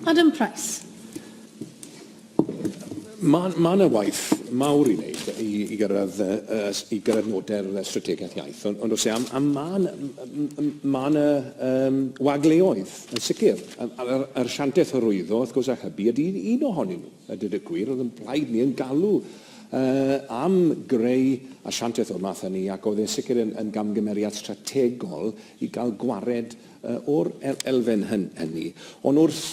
Adam Price. Mae ma yna waith mawr i wneud i, i gyrraedd, uh, i gyrraedd noder y strategaeth iaith, ond, ond os e, a, a mae yna ma yna um, wagleoedd yn sicr. A'r, ar siantaeth hyrwyddo, wrth gwrs, a hybu ydy un ohonyn nhw. A dyd y gwir, oedd yn blaid ni yn galw uh, am greu asiantaeth o'r math hynny ac oedd e'n sicr yn, yn gamgymeriad strategol i gael gwared o'r elfen hynny. Ond wrth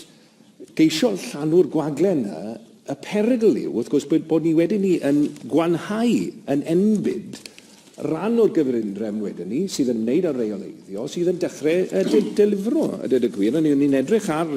geisio llanw'r gwagle yna, y perygl yw, wrth gwrs, bod ni wedyn ni yn gwanhau, yn enbyd, ran o'r gyfundrefn wedyn ni sydd yn ymwneud â rheoleiddio, sydd yn dechrau delifro, a dweud y gwir. Hynny yw, ni'n edrych ar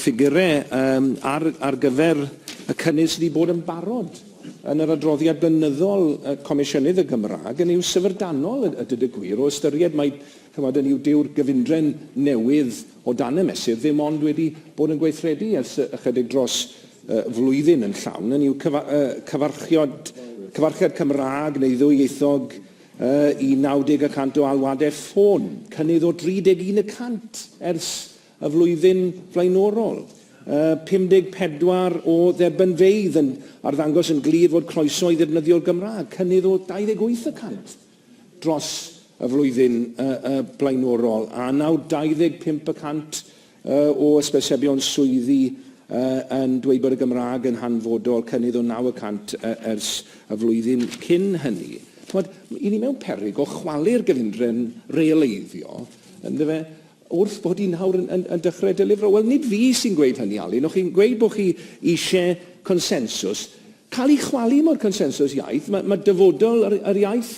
ffigurau ar gyfer y cynnydd sydd wedi bod yn barod yn yr adroddiad blynyddol Comisiynydd y Gymraeg, hynny yw syfrdanol a dweud y gwir, o ystyried mai Chimod, hynny yw, dyw'r gyfundrefn newydd o dan y mesur ddim ond wedi bod yn gweithredu ers ychydig dros flwyddyn yn llawn, hynny yw, cyfarchiad Cymraeg neu ddwyieithog i 90 y cant o alwadau ffôn, cynnydd o 31 y cant ers y flwyddyn flaenorol, 54 o dderbynfeydd yn arddangos yn glir fod croeso i ddefnyddio'r Gymraeg, cynnydd o 28 y cant. dros y flwyddyn blaenorol, a nawr 25 y cant o ysbysebion swyddi yn dweud bod y Gymraeg yn hanfodol, cynnydd o naw y cant ers y flwyddyn cyn hynny. Chimod, i ni mewn peryg o chwalu'r gyfundrefn realeiddio, yndyfe, wrth bod ni nawr yn, yn, yn dechrau delifro. Wel, nid fi sy'n gweud hynny, Alun, o'ch chi'n gweud bod chi eisiau consensws, cael ei chwalu mor consensws iaith. Mae, mae dyfodol yr, yr iaith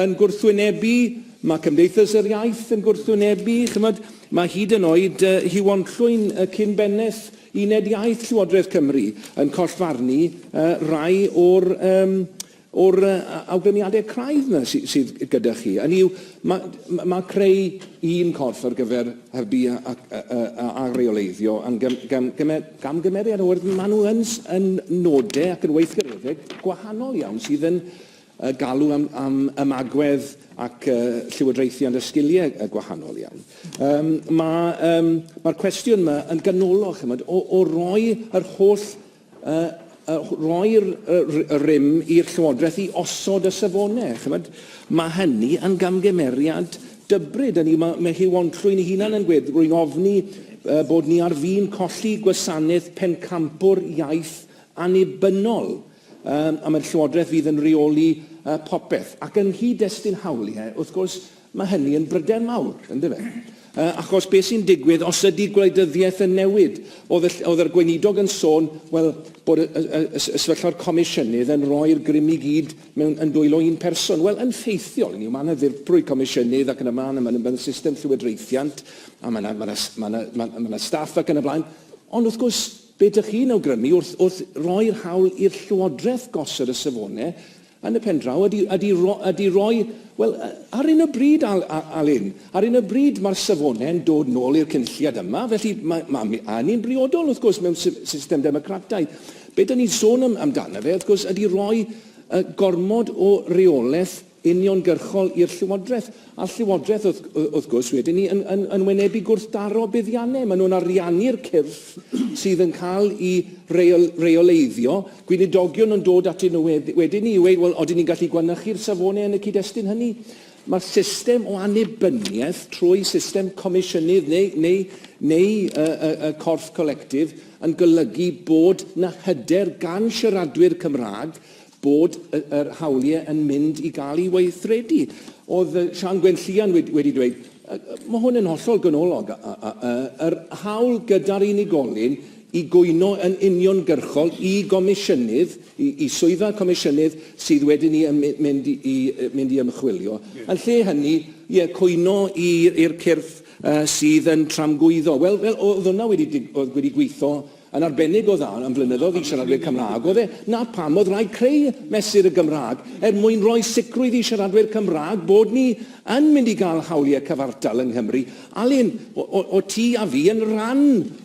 yn gwrthwynebu, mae cymdeithas yr iaith yn gwrthwynebu, chymod, mae hyd yn oed uh, Huon Llwyn, uh, cyn bennaeth uned iaith Llywodraeth Cymru, yn collfarnu uh, rai o'r um, o'r uh, awgrymiadau craidd yna sy, sydd gyda chi. Yn yw, mae, mae creu un corff ar gyfer hybu a, a, a, a, a reoleiddio yn gym, gym, gym, Camgymeriad o yrdd maen nhw yn, yn nodau ac yn weithgareddeg gwahanol iawn sydd yn uh, galw am, am ymagwedd ac uh, llywodraethiant a sgiliau uh, gwahanol iawn. Um, Mae'r um, ma cwestiwn yma yn ganolog chymod, o, o roi yr holl uh, rhoi'r rym i'r Llywodraeth i osod y safonau. Chymod, mae hynny yn gamgymeriad dybryd. Hynny, mae, mae Huw Onllwyn ei hunan yn gwed, rwy'n ofni uh, bod ni ar fin colli gwasanaeth pencampwr iaith annibynnol. Um, a mae'r Llywodraeth fydd yn reoli uh, popeth. Ac yng nghyd-destun hawliau, wrth gwrs, Mae hynny yn bryder mawr, yn dyw e? Achos beth sy'n digwydd os ydy gwleidyddiaeth yn newid? Oedd yr Gweinidog yn sôn, wel, bod y sefyllfa'r Comisiynydd yn rhoi'r grym i gyd yn dwylo un person. Wel, yn ffeithiol, hynny yw, mae yna ddirprwy Comisiynydd ac yn y blaen, a mae yna system llywodraethiant, a mae yna, mae yna, mae yna, mae yna staff ac yn y blaen. Ond wrth gwrs, be ydych chi'n awgrymu wrth, wrth roi'r hawl i'r Llywodraeth gosod y safonau Yn y pen draw, ydy, ydy, ydy roi, wel, ar un o bryd, Al, Alun, ar un o bryd mae'r safonau yn dod nôl i'r cynulliad yma, felly mae, mae, mae hynny'n briodol, wrth gwrs, mewn system democrataidd. Be dyn ni'n sôn am, amdano fe, wrth gwrs, ydy roi uh, gormod o reolaeth uniongyrchol i'r llywodraeth. A'r Llywodraeth, wrth gwrs, wedyn 'ny, yn wynebu gwrthdaro buddiannau. Maen nhw'n ariannu'r cyrff sydd yn cael i reoleiddio. Gweinidogion yn dod atyn nhw wedyn 'ny i ddweud, wel, odyn ni'n gallu gwanychu'r safonau yn y cyd-destun hynny? Mae'r system o annibyniaeth trwy system comisiynydd neu y corff colectif yn golygu bod 'na hyder gan siaradwyr Cymraeg bod yr hawliau yn mynd i gael ei weithredu. Oedd Sian Gwenllian wedi, wedi dweud, mae hwn yn hollol ganolog, yr hawl gyda'r unigolyn i gwyno yn uniongyrchol i gomisiynydd, i, i swyddfa comisiynydd sydd wedyn ni yn mynd i, i, mynd i ymchwilio. Yn lle hynny, ie, cwyno i'r cyrff uh, sydd yn tramgwyddo. Wel, wel oedd hwnna wedi, wedi gweithio Yn arbennig o dda am flynyddoedd i siaradwyr Cymraeg oedd e, 'na pam oedd rhaid creu Mesur y Gymraeg, er mwyn rhoi sicrwydd i siaradwyr Cymraeg bod ni yn mynd i gael hawliau cyfartal yng Nghymru. Alun, o't ti a fi yn rhan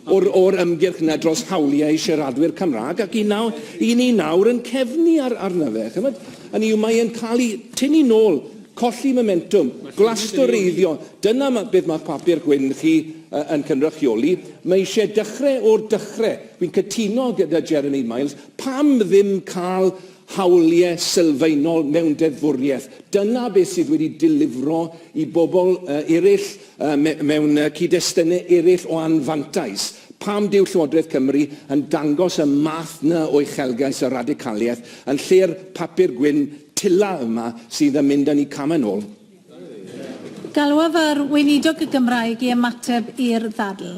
o'r ymgyrch 'na dros hawliau siaradwyr Cymraeg ac i nawr, i ni nawr yn cefnu arno fe. Chimod, hynny yw, mae'n cael ei tynnu nôl, colli momentwm, glastwreiddio, dyna beth mae'ch papur gwyn chi yn cynrychioli, mae eisiau dechrau o'r dechrau. Fi'n cytuno gyda Jeremy Miles, pam ddim cael hawliau sylfaenol mewn deddfwriaeth? Dyna beth sydd wedi delifro i bobl eraill mewn cyd-destunau eraill o anfantais. Pam dyw Llywodraeth Cymru yn dangos y math 'na o uchelgais a radicaliaeth yn lle'r papur gwyn tila yma sydd yn mynd â ni cam yn ôl? Galwaf ar Weinidog y Gymraeg i ymateb i'r ddadl.